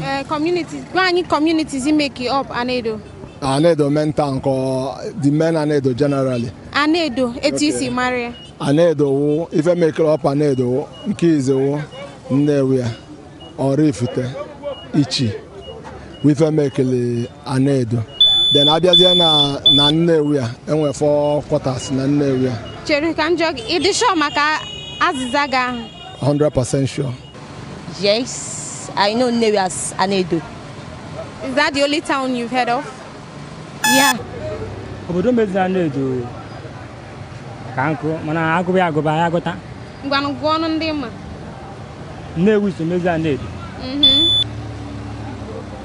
Eh, communities, gwa anyị communities make up Anedo. Anedo main town ka the main Anedo generally. Anedo, etu i si mara ya. Anedo wụ ife make up Anedo wụ nke izizi wụ Nnewi ya Oraifite Ichi wụ ife mekele Anedo. Then abịazie na na Nnewi ya e nwee four quarters na Nnewi ya. Chere ka m jụọ gị, ị dị sure maka azịza gị ahụ? 100% sure. Yes, I know Nnewi as Anedo. Is that the only town you've heard of? Yeah. Obodo mezi Anedo ka nkụ mana agụba ya agụba ya agụta. Ngwanụ gụọnụ ndị ị ma. Nnewi so mezi Anedo. Mm-hmm.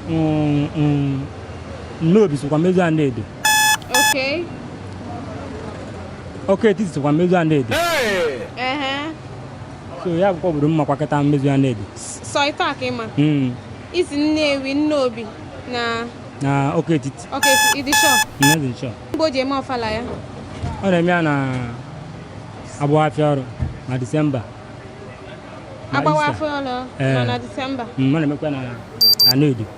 Mm, mm. Nnobi sokwa mezi Anedo. Okay. Awka-Etiti sokwa mezu Anedo. Hey! Uh-huh. so ya bụkwa obodo m makwa kịta mezu Anedo sọ ịtọ a ka ị ma Mm, ị sị Nnewi Nnobi na na Awka-Etiti okay ị dị sure n'ezie sure mgbe o ji eme ọfala ya ọ na-eme ya na agbawa afịa ọrụ na December na agbawa afịa ọlụ Eh. nọ na December Mm, ọ na-emekwa na na Anedo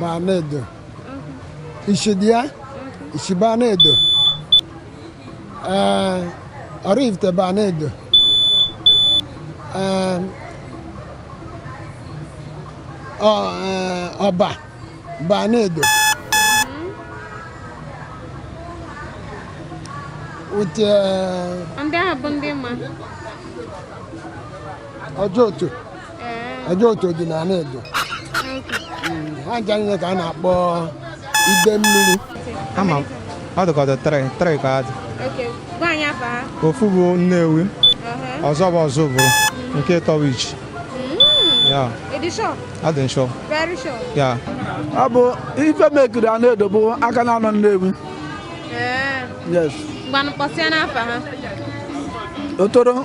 baa Anedo Ichi dị ya Ichi baa Anedo ee Oraifite baa Anedo ee ọ ee, Ọba baa Anedo uche ndị ahụ bụ ndị m ma Ojoto Ojoto ọ dị na Anedo ha ncha niile ka a na-akpọ Idemmiri ama m ọ dịkọta three three ka ha dị ofu bụ Nnewi uh-huh. ọzọ bụ Ozubulu nke atọ wụ Ichi adị m sure yeah ọ bụ ife mekiri Anedo bụ aka na-anọ Nnewi eh. yes Otolo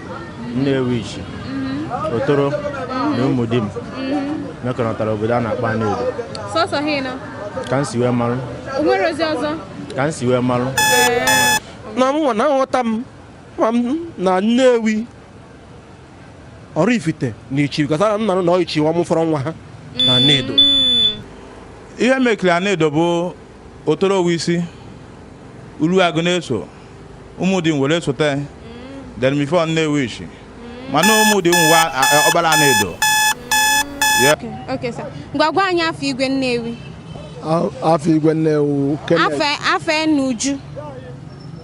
Nnewichi mhm. Otolo na Umudim mhm. mekọrọtara obodo a na-akpọ Anedo sọsọ ha ịnọ ka m si wee marụ o nwere ozi ọzọ ka m si wee marụ na mụnwa na nghọta m ma m na Nnewi Oraifite na Ichi because na na Ichi nwa m fọrọ nwa ha na Anedo mm. ihe mekiri Anedo bụ Otolo wụ isi Uruagụ na-eso Umudim were sote then before Nnewichi mana Umudim nwa a- a- ọ bara Anedo Okay, sir. Ngwa gwa anyị afa igwe Nnewi. afa igwe Nnewi Afa afa ya n'uju.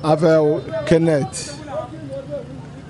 afa Kenneth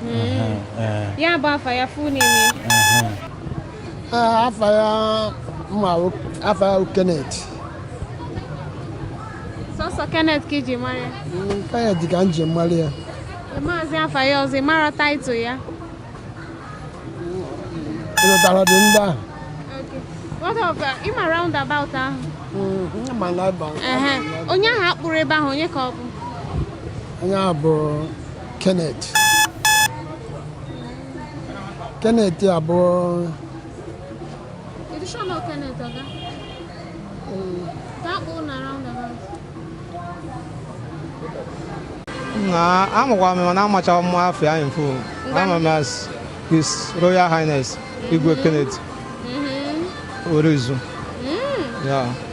hmm. ya bụ afa ya full name afa ya m ma afa ya Kenneth sọsọ Kenneth ka i ji mara ya hmm, Kenneth ka m ji mara ya maazị afa ya ọzọ ị mara title ya ịlụtara dị ndị ahụ What of uh, ị ma roundabout ahụ? Mm, onye ahụ a kpụrụ ebe ahụ onye ka ọ bụ? onye a bụ Kenneth Kenneth abụ na amakwa m mana amacha m afa ya in full ama m as his royal highness igwe Kenneth mm-hmm. Orizu mm. ya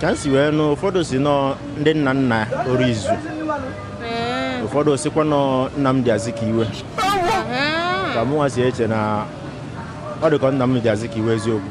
ka m si wee nụ ụfọdụ sị na ọ ndị nna nna Orizu ụfọdụ sịkwa na ọ Nnamdi Azikiwe ka mụnwa si eche na ọ dị ka ọ Nnamdi Azikiwe eziokwu